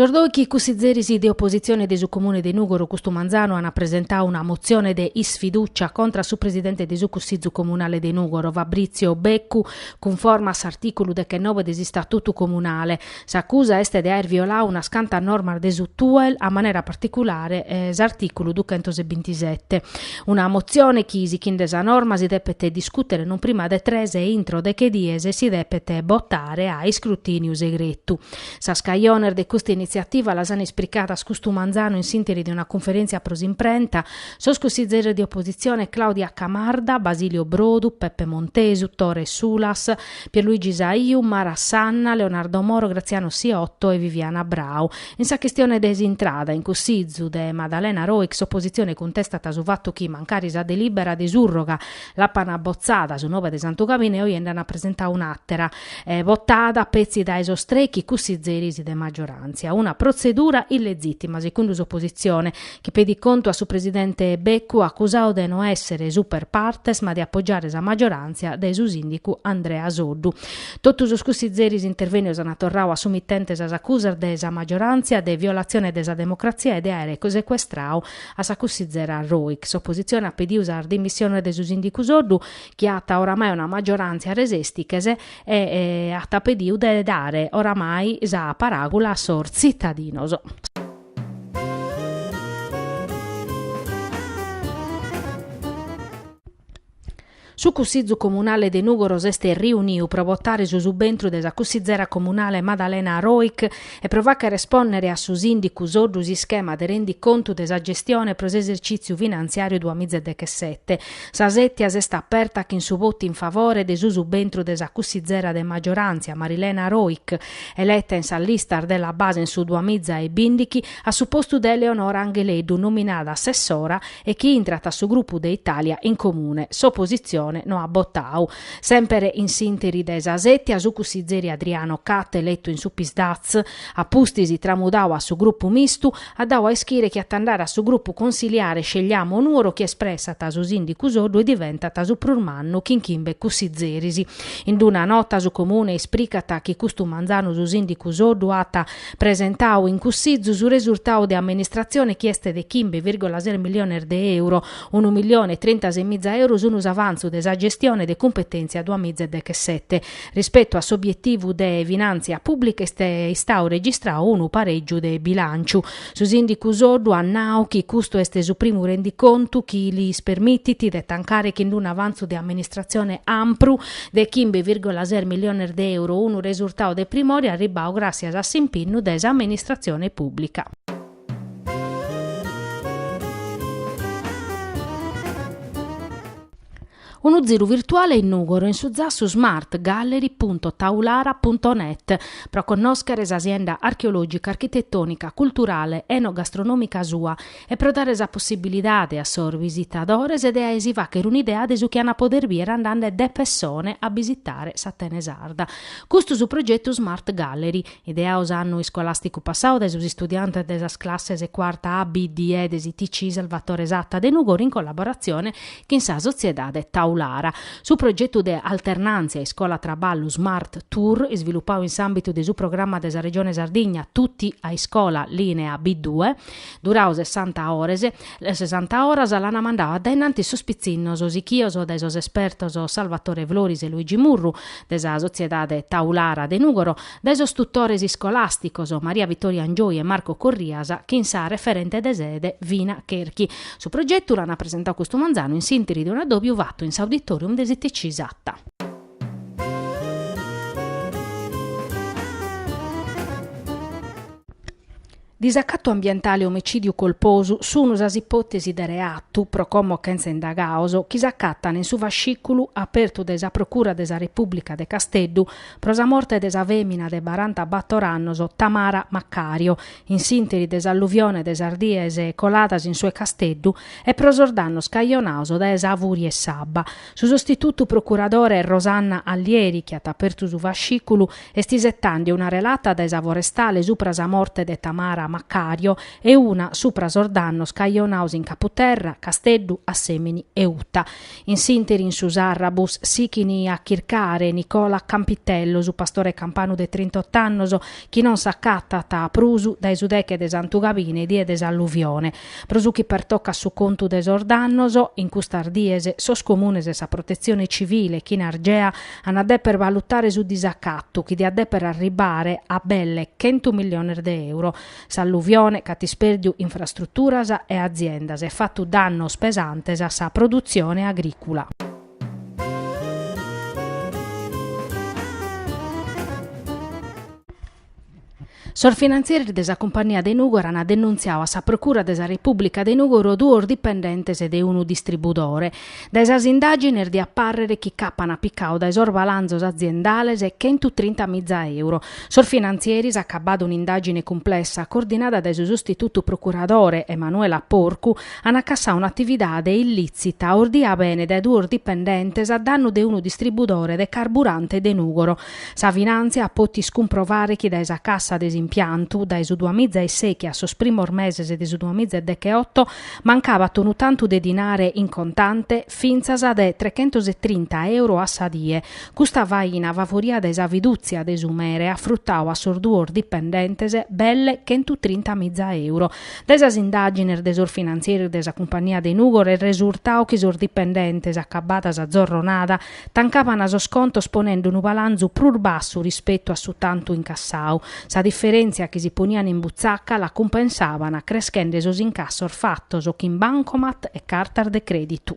Sos dòichi cussizeris de opositzione de su Comune de Nùgoro custu manzanu ant presentadu una motzione de isfidùcia contra su presidente de su Cussizu Comunale de Nùgoro, Fabritzio Beccu, cunforma a s'artìculu dechenobe de s'Istatutu Comunale. S'acusa est de aer violadu unas cantas normas de su TUEL, a manera particulare s'artìculu duchentos e bintisete. Una motzione chi, sichinde sa norma, si depet discùtere non prima de tres e intro deche dies si depet botare a iscrutìniu segretu. Sas cajones de custa initziativa las ant ispricadas custu manzanu in s'ìnteri de una cunferèntzia pro s'imprenta sos cussizeres de opositzione Claudia Camarda, Basilio Brodu, Peppe Montesu, Tore Sulas, Pierluigi Saiu, Mara Sanna, Leonardo Moro, Graziano Siotto e Viviana Brau. In sa chistione de s'intrada in Cussizu de Madalena Roich s'opositzione cuntestat su fatu chi mancari sa delìbera de surroga l'apan abotzada su nobe de Santu Gabine oje nd'an presentada un'àtera, botada petzi dae sos trechi cussizeris de magioràntzia, una protzedura illegìtima, secundu s'opositzione, chi pedit contu a su presidente Beccu acusadu de no èssere super partes ma de apogiare sa magioràntzia de su sìndicu Andrea Soddu. Totu sos cussizeris intervènnios ant torradu a su mitente sas acusas de sa magioràntzia de violatzione de sa democratzia e de àere secuestradu a sa cussizera Roich. S'opositzione at pedidu sas dimissiones de su sìndicu Soddu chi at oramai una magioràntzia resèstiches e at pedidu de dare oramai sa paràgula a sos tzitadinos. Su Cussizu Comunale de Nùgoro s'est riuniu pro botare su subentru de sa cussizera comunale Madalena Roich e pro fàchere espònnere a su sìndicu Soddu s'ischema de rendicontu de sa gestione pro s'esercìtziu finantziàriu duamiza e dechesete. Sa sètia s'est aperta chin su votu in favore de su subentru de sa cussizera de magioràntzia Marilena Roich, Eleta in sas listas de La Base in su duamiza e bìndichi a su postu de Eleonora Angheleddu nominada assessora e chi intrat a su grupu de Italia in Comune, s'opositzione no at botadu. Semper in s'interi de sa sètia su cussizeri Adriano Catte eletu in su Psd'Az, a pustis tramudadu a su grupu mistu, at dau a ischire chi at a andare a su grupu consiliare Scegliamo Nuoro chi espressat su sìndicu Soddu e diventat su prus mannu chin chimbe cussizeris. In d-una nota su Comune ispricat chi custu manzanu su sìndicu Soddu at presentau in cussizu su resurtau de amministratzione chi est de chimbe virgola ses milliones de euro, unu millione e trintases miza euro sun s'avantzu de sa gestione de cumpetèntzia duamìza e dechesete. Rispetu a s'obietivu de finàntzia pùblica est istau registrau unu parègiu de bilànciu. Su sìndicu Soddu at nau chi custu est su primu rendicontu chi lis permitit de tancare chin d'unu avantzu de amministratzione ampru de chimbe virgola ses milliones de euro, unu resurtau de primore arribbau gràtzias a s'impinnu de s'amministratzione pùblica. Unu ziru virtuale in Nùgoro in su zassu smart gallery punto taulara punto net pro connòschere sa sienda archeològica, architetònica, culturale, enogastronòmica sua e pro dare sa possibilidade a sos visitadores de si fàchere un'idea de su chi ant pòdere bìere andande de pessone a bisitare s'Atene Sarda. Custu su progetu Smart Gallery, ideau s'annu iscolàsticu passau dae sos istudiantes de sas classes cuarta A, B, D de s'ITC Salvatore Satta de Nùgoro in collaboratzione chin sa sotziedade Taulara. Su progetu de Alternàntzia iscola-traballu Smart Tour, isvilupau in s'àmbitu de su programma de sa Regione Sardigna Tutti a Iscola, lìnea B-due, durau sessanta ores, sessanta oras, l'ant mandau a dae in antis sos pitzinnos sichios dae sos espertos Salvatore Floris e Luigi Murru de sa sotziedade Taulara de Nùgoro, Dae sos tutores iscolàsticos Maria Vittoria Angioi e Marco Corrias chin sa referente de sede Vina Cherchi. Su progetu l'ana presentau custu manzanu in s'interi de un addòbiu fatu in s'Auditorium de s'ITC Satta. Disacatu ambientale e omicìdiu colposu sunu sas ipòtesis de reatu, pro como chentza indagaos, chi s'acatan in su fascìculu apertu dae sa Procura de sa Repùblica de Casteddu pro sa morte de sa fèmina de baranta bator annos Tamara Maccario in s'ìnteri de s'alluvione de sas dies coladas in su 'e Casteddu e pro sos dannos cajonaos dae sa fùria 'e s'abba. Su sostitutu procuradore Rosanna Allieri, chi at apertu su fascìculu, Est isetande una relata dae sa forestale supra sa morte de Tamara Maccario e una supra sos dannos cajonaos in Caputerra, Casteddu, Assemini e Uta. In s'ìnteri in su Sarrabus sichini a chircare Nicola Campitello, su pastore campanu de trintot'annos, chi non s'acatat prusu dae su deche de Santu Gabine die de s'alluvione. Pro su chi pertocat su contu de sos dannos, in custas dies sos Comunes e sa Protetzione Civile chin Argea an a deper valutare su disacatu chi diat deper arribare a belle chentu milliones de euro. S'alluvione ch'at ispèrdiu infrastruturas e aziendas e fatu dannos pesantes a sa produtzione agrìcula. Sos finantzieris de sa cumpagnia de Nùgoro ant denuntziadu a sa Procura de sa Repùblica de Nùgoro duos dipendentes de unu distribudore. Dae sas indàgines diat pàrrere chi ch'apan picadu dae sos balanzos aziendales chentu trinta miza euro. Sos finantzieris, acabada un'indàgine cumplessa coordinada dae su sustitutu procuradore Emanuela Porcu, ant acassadu un'atividade illìtzita ordia bene dae duos dipendentes a dannu de unu distribudore de carburante de Nùgoro, Sa finàntzia at pòtiu cumprovare chi dae sa cassa de s'impiantu, dae su duamiza e sèichi a sos primos meses de su duamiza e decheoto, mancabat unu tantu de dinare in contante, fintzas de trechentos e trinta euro a sa die. Custa faina favoria dae sa fidùtzia de su mere at frutadu a sos duos dipendentes belle chentu trinta miza euro. Dae sas indàgines de sos finantzieris de sa cumpagnia de Nùgoro est resurtadu chi sos dipendentes, acabada sa zorronada, Tancaban sos contos ponende unu balanzu prus bassu rispetu a su tantu incassadu. Sa diferèntzia chi si ponian in butzaca la cumpensaban creschende sos incassos fatos chin bancomat e cartas de crèditu.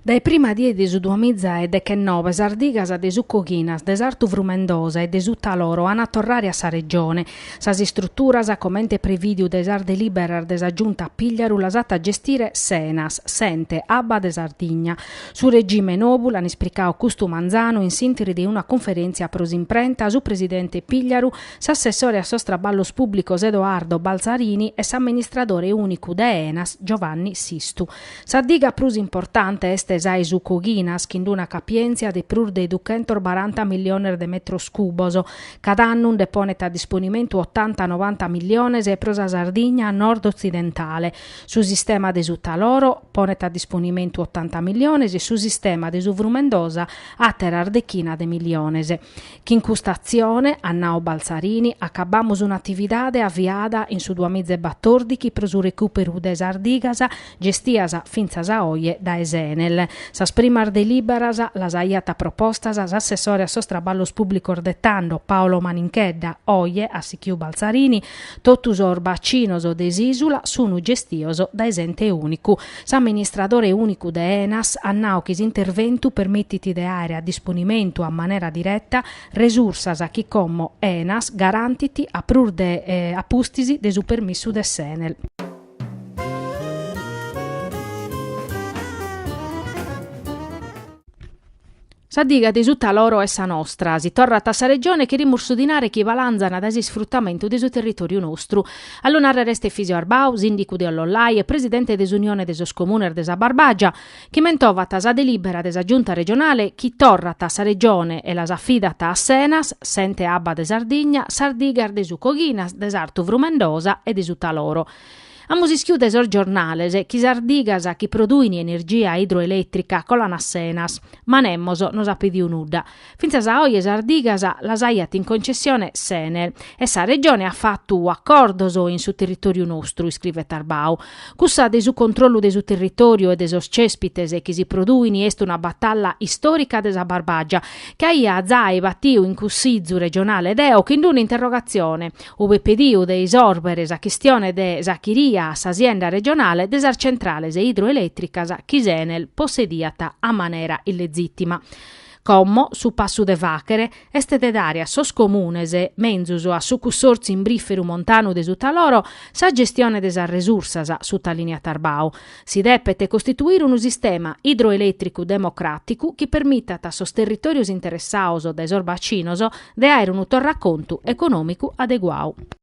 Dae prima die de su duamiza e dechennoe sas digas de su Coghinas, de s'Artu Frumendosa e de su Taloro an a torrare a sa Regione. Sas istruturas, comente prevìdiu dae sas delìberas de sa Giunta Pigliaru, las at a gestire s'Enas, s'Ente abba de Sardigna. Su regime nou l'an ispricadu custu manzanu in s'ìnteri de una cunferèntzia pro s'imprenta su presidente Pigliaru, s'assessore a sos traballos pùblicos Edoardo Balzarini e s'amministradore ùnicu de Enas Giovanni Sistu. Sa diga prus importante est sa 'e su Coghinas, chin d'una capièntzia de prus de duchentos baranta milliones de metros cubos. Cada annu nde ponet a disponimentu otanta-novanta milliones pro sa Sardigna nord-otzidentale. Su sistema de su Taloro ponet a disponimentu otanta milliones e su sistema de su Frumendosa àteras dechinas de milliones. Chin custa atzione, at nau Balzarini, acabamus un'atividade aviada in su duamiza e batòrdichi pro su recùperu de sas digas gestias fintzas a oje dae s'Enel. Sas primas delìberas las aiat propostas s'assessore a sos traballos pùblicos de tando, Paolo Maninchedda, oje, at sichiu Balzarini, totu sos bacinos de s'ìsula sun gestios dae s'ente ùnicu. S'amministradore ùnicu de Enas at nau chi s'interventu permitit de àere a disponimentu a manera direta resursas chi como Enas garantit a prus de a pustis de su permissu de s'Enel. Sa diga de su Taloro est sa nostra, si torrat a sa Regione cherimus su dinare chi balanzan dae s'isfrutamentu de su territoriu nostru. A lu narrer est Efisio Arbau, sìndicu de Ollollai e presidente de s'Unione de sos Comunes de sa Barbàgia, chi mentovat sa delìbera de sa Giunta Regionale chi torrat a sa Regione e las afidat a s'Enas, s'Ente Abba de Sardigna, sas digas de su Coghinas, de s'Artu Frumendosa e de su Taloro. Amus ischiu dae sos giornales chi sas digas chi produin energia idroeletrica colan a s'Enas, ma nemos nos at pediu nudda. Fintzas a oe sas digas las aiat in concessione s'Enel e sa Regione at fatu acordos in su territoriu nostru, iscrivet Arbau. Cussa de su controllu de su territoriu e de sos cèspites chi si produin est una batalla istorica de sa Barbagia, chi aiat zai batiu in Cussitzu regionale deo chin d'una interrogatzione, ue apo pediu de isòrbere sa chistione de s'achiria a s'asienda regionale de sas centrales idroelètricas chi s'Enel possediat a manera illezìtima. Como su passu de fàghere est de dare a sos comunes, menzus a su cussòrtziu imbrìferu montanu de su Taloro, sa gestione de sas resursas, sutalìniat Arbau. Si depet costituire unu sistema idroelètricu democràticu chi permitat a sos territòrios interessados dae sos bacinos de àere unu torracontu econòmicu adeguadu.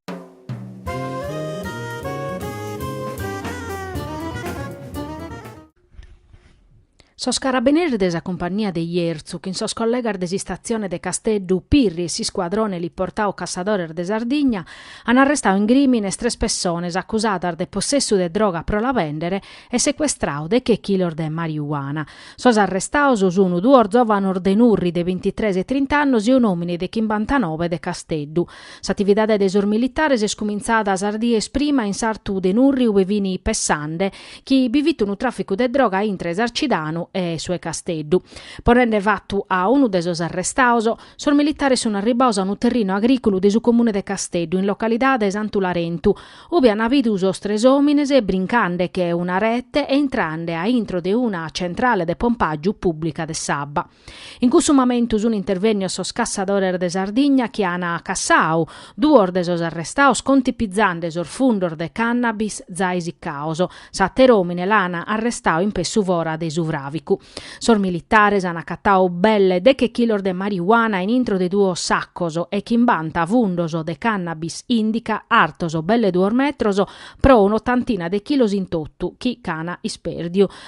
Sos carabineris de sa cumpagnia de Jerzu chin sos collegas de s'istatzione de Casteddu Pirri e s'iscuadrone liportadu Cassadores de Sardigna an arrestadu in crìmine tres pessones acusadas de possessu de droga pro la bèndere e secuestradu deche chilos de mariuana. Sos arrestados sun duos zòvanos de Nurri de bintitres e trint'annos e un'òmine de chimbantanobe de Casteddu. S'atividade de sos militares est cumintzada sas dies prima in s'artu de Nurri ue fini pessande chi bi fit unu tràficu de droga intre 'e Sarcidanu e su 'e Casteddu. Ponende fatu a unu de sos arrestados, sos militares sun arribbados a unu terrinu agrìculu de su comune de Casteddu in localidade Santu Larentu, ube an bidu sos tres òmines brincandeche una rete e intrande a intro de una centrale de pompàgiu pùblica de s'abba. In cussu mamentu sun intervennios sos cassadores de Sardigna chi an cassau duos de sos arrestaos contipizande sos fundos de cannabis zai siccaos. S'ater'omine l'an arrestau impessu fora de su fravicu. Sos militares an acatau belle deche chilos de mariuana in intro de duos saccos e chimbanta fundos de cannabis indica artos belle duos metros pro un'otantina de chilos in totu chi ch'an isperdiu.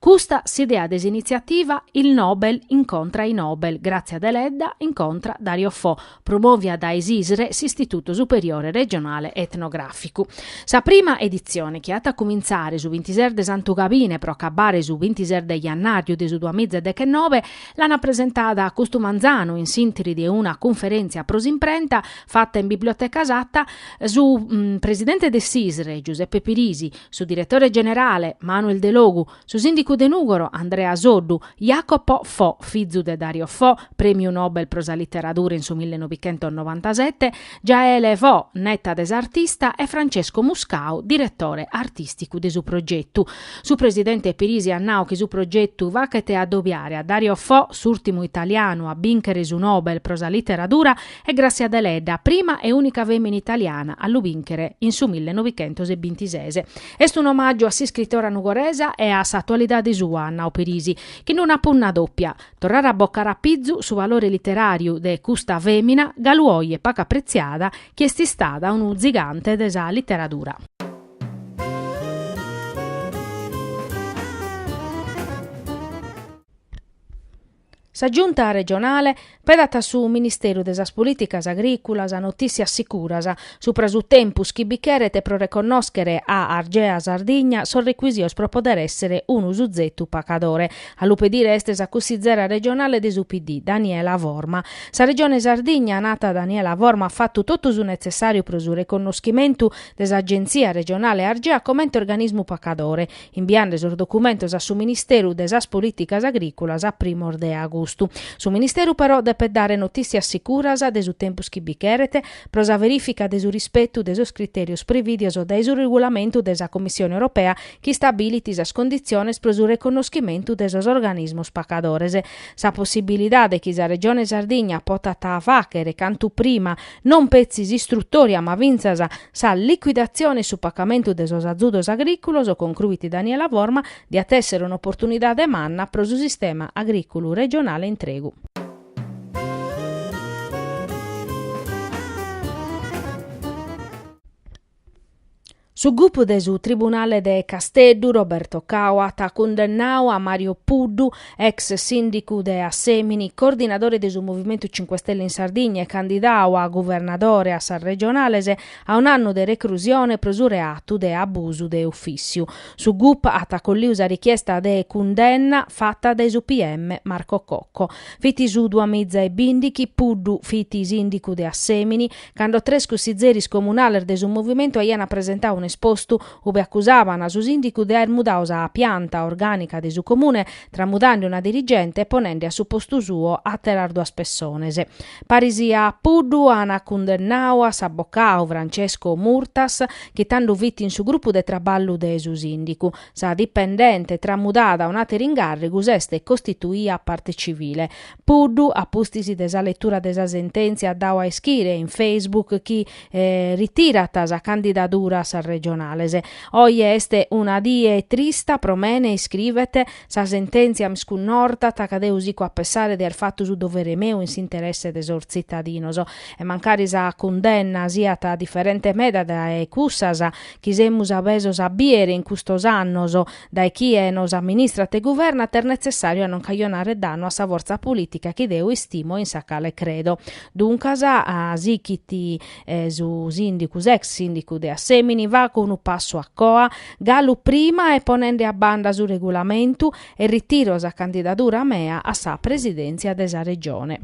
Custa s'idea de s'initziativa Il Nobel incontra i Nobel, Grazia Deledda incontra Dario Fo, promòvia dae s'ISRE, s'Istitutu Superiore Regionale Etnogràficu. Sa prima editzione, chi at a cumintzare su bintises de Santu Gabine pro acabare su bintises de Jannàriu de su duamiza e dechenobe, l'an presentada custu manzanu in s'ìnteri de una cunferèntzia pro s'imprenta fata in Biblioteca Satta, su presidente de s'ISRE, Giuseppe Pirisi, su diretore generale, Manuel Delogu, su sìndicu de Nùgoro, Andrea Soddu, Jacopo Fo, fizu de Dario Fo, prèmiu Nobel pro sa literadura in su millenovichentosnovantasete, Jaele Fo, neta de s'artista, e Francesco Muscau, diretore artìsticu de su progetu. Su presidente Pirisi at nau chi su progetu fachet adobiare a Dario Fo, s'ùrtimu italianu a bìnchere su Nobel pro sa literadura, e Grazia Deledda, prima e ùnica fèmina italiana a lu bìnchere in su millenovichentos e bintises. Est un'omàgiu a s'iscritora nugoresa e a s'atualidade sua, at nau Pirisi, chin una punna dòpia. Torrare a bocare a pizu su valore literàriu de custa fèmina galu oje pacu apretziada chi est istada unu tzigante de sa literadura. Sa Giunta regionale pedat a su Ministeru de sas Polìticas Agrìculas notìssias sicuras supra su tempus chi bi cheret pro reconnòschere a Argea Sardigna sos recuisios pro poder èssere unu suzetu pacadore. A lu pedire est sa cussizera regionale de su PD, Daniela Forma. Sa Regione Sardigna, nat Daniela Forma, at fatu totu su netzessàriu pro su reconnoschimentu de s'Agentzia regionale Argea comente organismu pacadore, imbiande sos documentos a su Ministeru de sas Polìticas Agrìculas a primos de agustu. Su Ministeru però depet dare notìssias sicuras de su tempus chi bi cheret pro sa verìfica de su rispetu de sos critèrios prevìdios dae su regulamentu de sa Commissione Europea chi istabilit sas conditziones pro su reconnoschimentu de sos organismos pacadores. Sa possibilidade chi sa Regione Sardigna potat fàchere cantu prima non petzi s'istrutòria ma fintzas sa liquidatzione e su pacamentu de sos azudos agrìculos, concruit Daniela Forma, diat èssere un'oportunidade manna pro su sistema agrìculu regionale intregu. Su gup de su Tribunale de Casteddu, Roberto Cau, at cundennau a Mario Puddu, ex sìndicu de Assemini, coordinadore de su Movimentu Cinque Stelle in Sardigna e candidau a guvernadore a sas regionales, a un'annu de recrusione pro su reatu de abusu de ufìssiu. Su gup at acolliu sa richiesta de cundenna fata dae su PM Marco Cocco. Fit su duamiza e bìndichi, Puddu fit sìndicu de Assemini Cando tres cussizeris comunales de su movimentu aiana presentau un'espostu ube accusaban a su sìndicu de aer mudau sa pianta orgànica de su comune tramudande una dirigente e ponende a su postu suo àteras duas pessones. Paris a Puddu an cundennau a s'abocau Francesco Murtas chi tando fit in su grupu de traballu de su sìndicu. Sa dipendente tramudada a un'àteru ingàrrigu s'est costituia parte civile Puddu a pustis de sa letura de sa sentèntzia at dau a ischire in Facebook chi ritirat sa candidadura a sas regionales. Oje est una die trista pro mene, iscrivet, sa sentèntzia m'iscunnortat ca deo sico a pessare de aer fatu su dovere meu in s'interesse de sos tzitadinos. E mancari sa cundenna siat diferente meda dae cussas chi semus abesos a bìere in custos annos, Dae chie nos amministrat e guvernat est netzessàriu a non cajonare dannu a sa fortza polìtica chi deo istimo e in sa cale credo. Duncas, sichit su sìndicu, s'ex sìndicu de Assèmini, faco unu passu a coa, galu prima e ponende a banda su regulamentu, e ritiro sa candidadura mea a sa presidèntzia de sa Regione.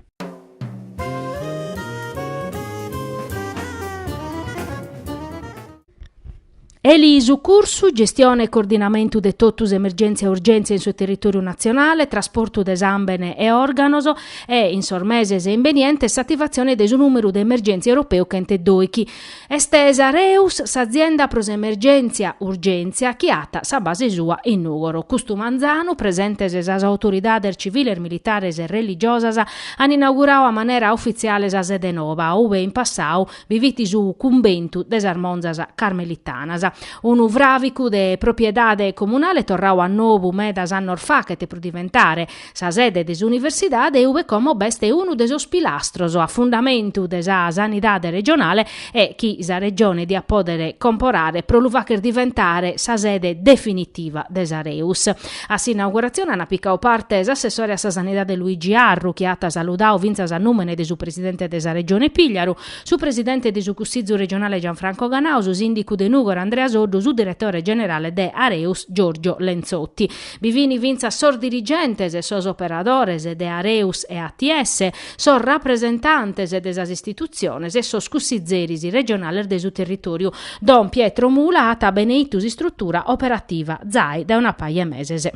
Elisucursu, gestione e coordinamentu de totu s'emergèntzia e urgèntzia in su territòriu natzionale, trasportu de sàmbene e òrganos e, in sos meses imbenientes, s'ativatzione de su nùmeru de emergèntzia europeu chent'e dòichi. Est s'Areus, s'azienda pro s'emergèntzia urgèntzia chi at sa base sua in Nùgoro. Custu manzanu, presentes sas autoridades civiles, militares e religiosas, an inaugurau a manera ufitziale sa sede noba, ube in passau bi fit su cumbentu de sas monzas carmelitanas, unu fràvicu de propriedade comunale torrau a nobu medas annos fachet pro diventare sa sede de s'universidade e ube como b'est unu de sos pilastros a fundamentu de sa sanidade regionale e chi sa Regione diat pòdere comporare pro lu fàcher diventare sa sede definitiva de s'Areus. A s'inauguratzione ant picau parte s'assessore a sa Sanidade Luigi Arru, chi at saludau fintzas a nùmene de su presidente de sa Regione Pigliaru, su presidente de su Cussizu regionale Gianfranco Ganau, su sìndicu de Nùgoro Andrea Soddu, su diretore generale de Areus Giorgio Lenzotti. Bi fin fintzas sos dirigentes e sos operadores de Areus e ATS, sos rapresentantes de sas istitutziones e sos cussizeris regionales de su territòriu, don Pietro Mula at beneitu s'istrutura operativa zai dae una paja 'e meses.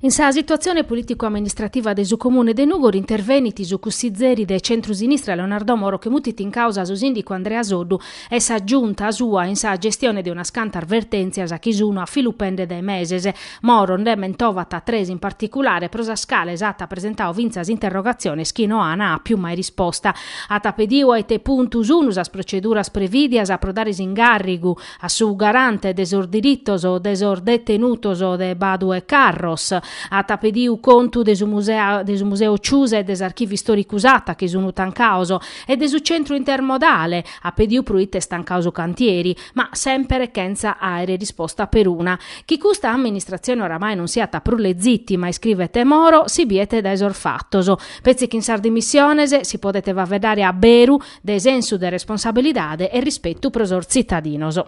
In sa situatzione polìticu-amministrativa de su Comune de Nùgoro intervenit su cussizeri de centru-sinistra Leonardo Moro chi mutit in càusa su sìndicu Andrea Soddu e sa giunta sua in sa gestione de unas cantas vertèntzias chi sun a filupende dae meses. Moro nde mentovat tres in particulare pro sas cales at presentau fintzas interrogatziones chi no an àpiu mai risposta. At pediu a ite puntu sun sas proceduras prevìdias pro dare s'ingàrrigu a su garante de sos diritos de sos detenutos de Badu e Carros. At pediu contu de de su museu Ciusa e de s'archivu istòricu Satta chi sun tancaos e de su centru intermodale, at pediu pro ite est tancau su cantieri, ma sèmpere chentza àere risposta peruna. Chi custa amministratzione oramai non siat prus lezitima, iscrivet Moro, si biet dae sos fatos. Petzi chin sas dimissiones si podet faveddare a beru de sensu de responsabilidade e rispetu pro sos tzitadinos.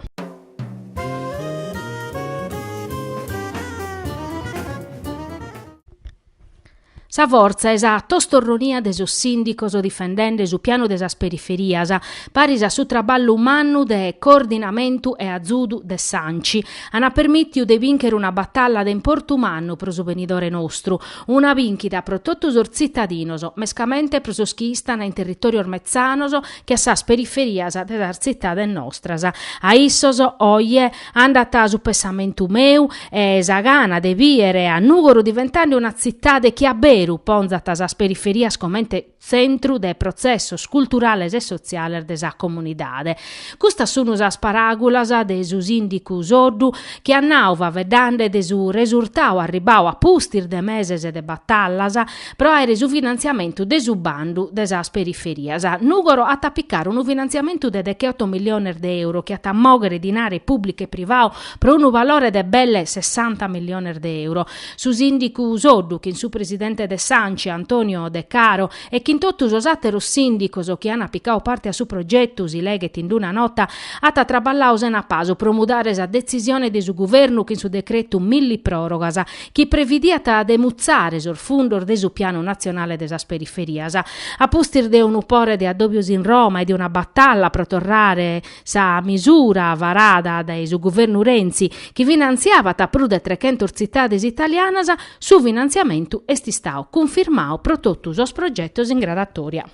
Sa fortza e sa tostorronia de sos sìndicos difendende su pianu de sas periferias, paris a su traballu mannu de coordinamentu e azudu de s'Anci, ant permìtiu de bìnchere una batalla de importu mannu pro su benidore nostru, una bìnchida pro totu sos tzitadinos, mescamente pro sos chi istan in territòrios metzanos che a sas periferias de sas tzitades nostras. A issos, oje, Andat su pessamentu meu e sa gana de bìere a Nùgoro diventande una tzitade chi a beru ponzat sas periferias comente tzentru de protzessos culturales e sotziales de sa comunidade. Custas sun sas paràgulas de su sìndicu Soddu chi at nau faveddande de su resurtau arribau a pustis de meses de batallas, Pro àere su finantziamentu de su bandu de sas periferias, Nùgoro at a picare unu finantziamentu de decheoto milliones de euro chi at a mòghere dinare pùblicu e privau pro unu valore de belle sessanta milliones de euro. Su sìndicu Soddu, chin su presidente de s'Anci, Antonio De Caro, e chin totu sos àteros sìndicos chi ant picau parte a su progetu, si leghet in una nota, at traballau sena pasu pro mudare sa detzisione de su guvernu chin su decretu millipròrogas, chi previdiat de mutzare sos fundos de su Pianu natzionale de sas periferias. A pustis de unu pore de addòbios in Roma e de una batalla pro torrare sa misura varada dae su guvernu Renzi, chi finantziabat prus de trechentos tzitades italianas, su finantziamentu est istau cunfirmau pro totu sos progetos in gradatoria.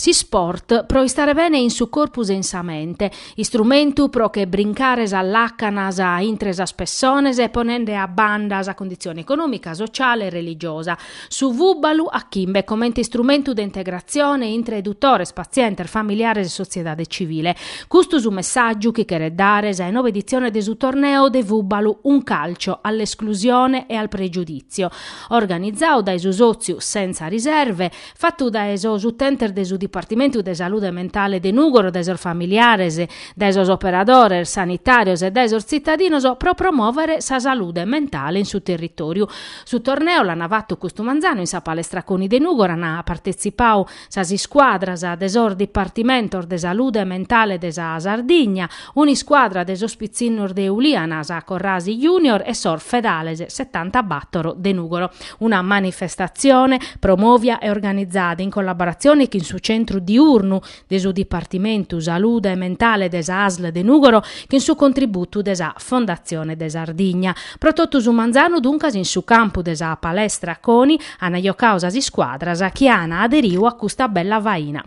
S'isport pro istare bene in su corpus e in sa mente. Istrumentu pro che brincare sas làcanas intre sas pessones ponende a banda sa conditzione econòmica, sociale e religiosa. Su fùbalu a chimbe comente istrumentu de integratzione intre edutores, patzientes, familiares e sotziedade civile. Custu su messàgiu chi cheret dare sa 'e nove editzione de su torneo de fùbalu Un calcio all'esclusione e al pregiudizio. organizadu dae su sòtziu Senza Riserve, fatu dae sos utentes de su Dipartimentu de Salude Mentale de Nùgoro, dae sos familiares, dae sos operadores sanitàrios e dae sos tzitadinos pro promòvere sa salude mentale in su territòriu. Su torneo l'ana fatu custu manzanu in sa Palestra Coni de Nùgoro, ana partetzipadu, sas iscuadras de sos dipartimentos de salude mentale de sa Sardigna, un'iscuadra de sos pitzinnos de Uliana, sa Corrasi Junior e sos Fedales setanta bàtoro de Nùgoro. Una manifestatzione promòvia e organizada in collaboratzione chin su Centru Diurnu de su Dipartimentu Salude Mentale de sa Asl de Nùgoro chin su contributu de sa Fondatzione de Sardigna. Pro totu su manzanu duncas in su campu de sa Palestra Coni ana jocadu sas iscuadras chi ana aderiu a custa bella faina.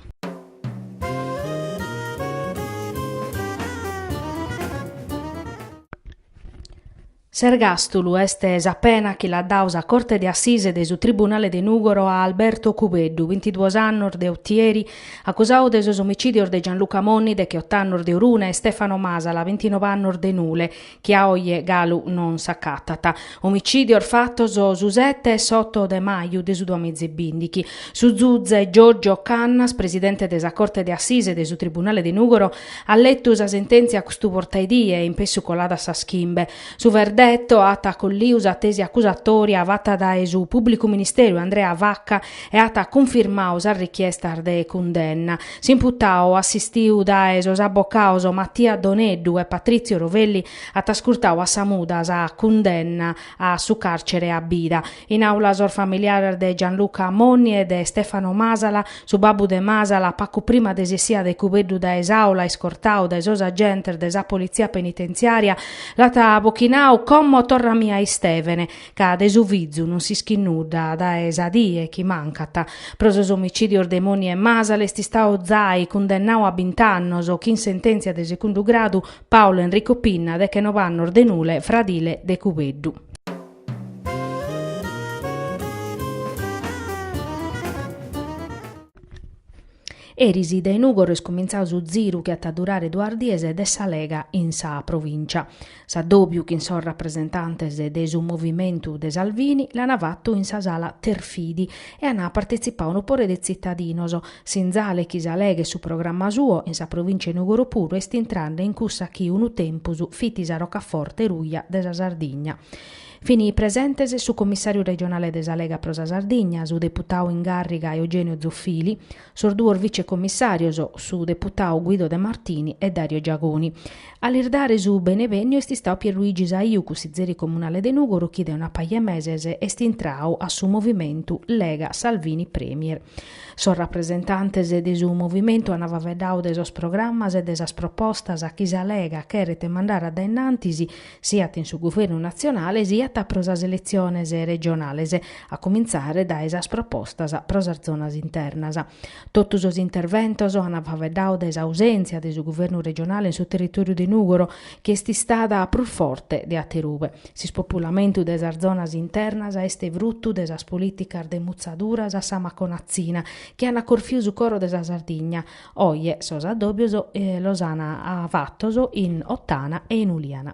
S'ergàstulu est sa pena chi l'at dadu sa Corte de Assise de su Tribunale de Nùgoro a Alberto Cubeddu, bintiduos annos de Otieri Acusau de sos omicìdios de Gianluca Monni, decheoto annos de Orune, e Stefano Masala, bintinove annos de Nule, chi a oje galu non s'acatat. Omicìdios fatos su sete e s'oto de maju de su duamìgia e bìndighi. Su zuze Giorgio Cannas, presidente de sa Corte de Assise de su Tribunale de Nùgoro, at letu sa sentèntzia custu portaedie e inpessu colada sas chimbe. Su verdetto at acolliu sa tesi accusatoria fatta dae su Pubblicu Ministeriu Andrea Vacca e at cunfirmau sas richiestas de cundenna. S'imputau, assistiu dae sos abbocaos Mattia Doneddu e Patrizio Rovelli, at ascurtau a sa muda sa cundenna a su carcere a bida. In àula sos familiares de Gianluca Monni e de Stefano Masala, su babbu de Masala, pagu prima de s'essida de Cubeddu dae s'àula, iscortadu dae sos agentes de sa politzia penitentziària, l'at abochinadu como torra·mi a Istèvene, ca de su fizu non s'ischit nudda dae sa die chi mancat. Pro sos omicìdios de Monni e Masala est istadu zai cundennadu a bint'annos, chin sentèntzia de segundu gradu, Paolo Enrico Pinna, dechenobe annos de Nule, fradile de Cubeddu. Eris dae Nùgoro est cumintzau su ziru chi at a durare duas dies de sa Lega in sa provìncia. S'addòbiu chin sos rapresentantes de su movimentu de Salvini l'ana fatu in sa sala Terfidi e ana partetzipau unu pore de tzitadinos, S'inzale chi sa Lega e su programma suo in sa provìncia 'e Nùgoro puru est intrende in cussa chi unu tempus fit sa rocaforte ruja de sa Sardigna. Fin presentes su comissàriu regionale de sa Lega pro sa Sardigna, su deputadu in gàrriga Eugenio Zoffili, sos duos vicecomissàrios, su deputadu Guido De Martini e Dario Giagoni. A lis dare su benevènniu est istadu Pierluigi Saiu, cussizeri comunale de Nùgoro chi de una paja 'e meses est intradu a su movimentu Lega Salvini Premier. Sos rapresentantes de su movimentu ant faeddadu de sos programmas e de sas propostas chi sa Lega cheret mandare a dae in antis siat in su Guvernu natzionale siat pro sas eletziones regionales, a comintzare dae sas propostas pro sas zonas internas. Totu sos interventos ant faeddadu de s'ausèntzia de su Guvernu regionale in su territòriu de Nùgoro chi est istada prus forte de aterube. S'ispopulamentu de sas zonas internas est frutu de sas polìticas de mutzaduras a sa maconatzina chi ant corfiu su coro de sa Sardigna. Oje sos addòbios los ant fatos in Ottana e in Uliana.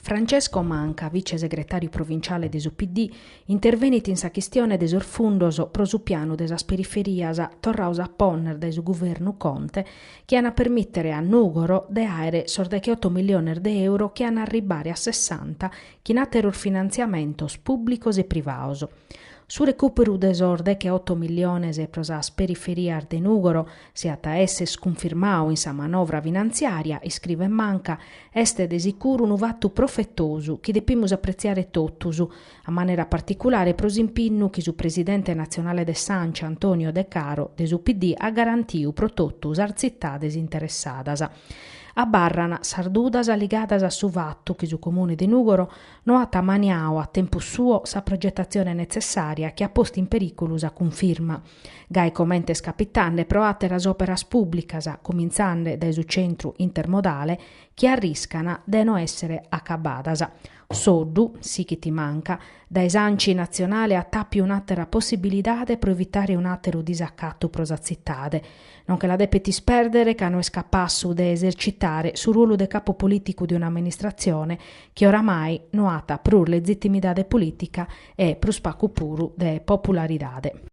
Francesco Manca, vicesegretàriu provinciale de su PD, Intervenit in sa chistione de sos fundos pro su pianu de sas periferias torrados a ponner dae su guvernu Conte chi an a permìtere a Nùgoro de àere sos decheoto miliones de euro chi an a arribare a sessanta chin àteros finantziamentos pùblicos e privados. Su recùperu de sos decheoto miliones pro sas periferias de Nùgoro, si at a èssere cunfirmadu in sa manovra finantziària, iscrivet Manca, est de sicuru unu fatu profetosu chi depimus apretziare totus, a manera particulare pro s'impinnu chi su presidente natzionale de s'Anci Antonio Decaro de su PD at garantiu pro totu sas tzitades interessadas. Abarran sas dudas ligadas a su fatu chi su Comune de Nùgoro no at ammaniadu a tempus suo sa progetatzione netzessària chi at postu in perìculu sa cunfirma, gai comente est capitende pro àteras òperas pùblicas, cumintzende dae su centru intermodale, chi arriscana de no èssere acabadas. Soddu, sichit Manca, dae s'anci natzionale at àpiu un'àtera possibilidade pro evitare un'àteru disacatu pro sa tzitade. Non che la depet ispèrdere ca no est capassu de esercitare su ruolu de capu polìticu de un'amministratzione chi oramai no at prus lezitimidade polìtica e, prus pagu puru, de popularidade.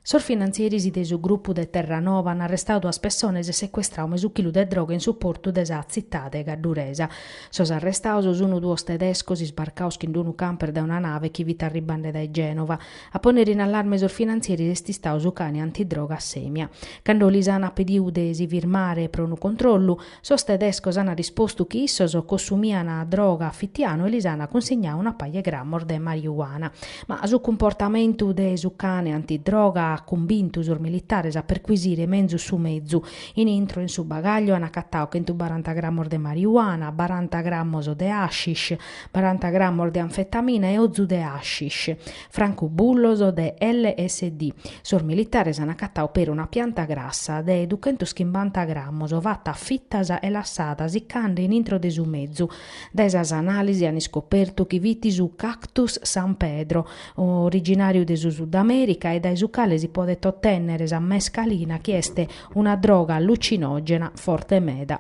Sos finantzieris de su grupu de Terranova an arrestadu duas pessones e secuestradu mesu chilu de droga in su portu de sa tzitade cadduresa. Sos arrestados sun duos tedescos isbarcados chin d'unu camper dae una nave chi fit arribende dae Genova. A pònnere in allarme sos finantzieris est istadu su cane antidroga Semia. Cando lis an pedidu de si firmare pro unu controllu, Sos tedescos an rispostu chi issos cossumian droga a fitianu e lis an cunsignadu una paja 'e grammos de marijuana. Ma su cumportamentu de su cane antidroga at cumbintu sos militares a perquisire menzus su mezu. In intro 'e su bagagliu an acatadu chentubaranta grammos de marijuana, baranta grammos de hashish, baranta grammos de anfetamina e ozu de hashish. francubullos de LSD. Sos militares an acatadu peri una pianta grassa de duchentos chimbanta grammos fata a fitas e lassada siccande in intro de su mezu. Dae sas analisi an iscopertu chi fit su Cactus San Pedro, originàriu de su Sudamèrica e dae su cale si podet otènnere sa mescalina chi est una droga allucinògena forte meda.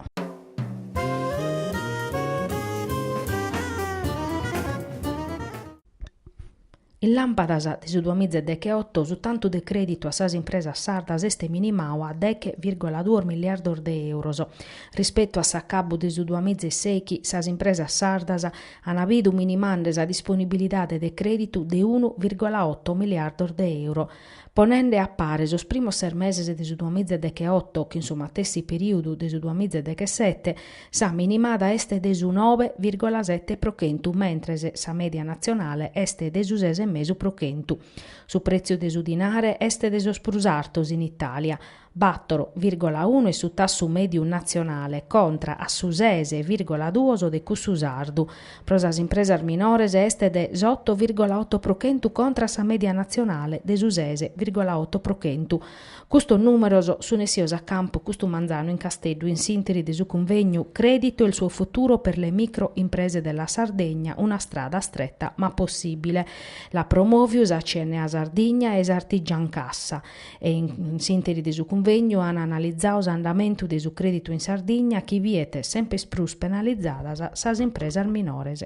In làmpadas de su duamizedechioto su tantu de crèditu a sas impresas sardas est minimadu a deghe vìrgula duos miliardos de euros. Rispetu a s'acabu de su duamizesèichi sas impresas sardas an bidu minimande sa disponibilidade de crèditu de unu vìrgula oto miliardos de euro. Ponende a pare sos primos ses meses de su duamizedechioto chin su matessi perìodu de su duamizedechesete, Sa minimada est de su nobe virgola sete pro chentu mentres sa mèdia natzionale est de su ses e mesu pro chentu. Su prètziu de su dinare est de sos prus artos in Itàlia, bàtoro virgola unu est su tassu mèdiu natzionale contra a su ses virgola duos de cussu sardu. Pro sas impresas minores est de s'oto virgola oto pro chentu contra a sa mèdia natzionale de su ses virgola oto pro chentu. Custos numeros sun essios a campu custu manzanu in Casteddu in s'interi de su cunvegnu Credito e il suo futuro per le micro imprese della Sardegna una strada stretta ma possibile l'at promoviu sa CNA Sardigna e s'Artigiancassa e in s'interi de su cunvegnu an analizau s'andamentu de su creditu in Sardigna chi biet sempes prus penalizadas sas impresas minores.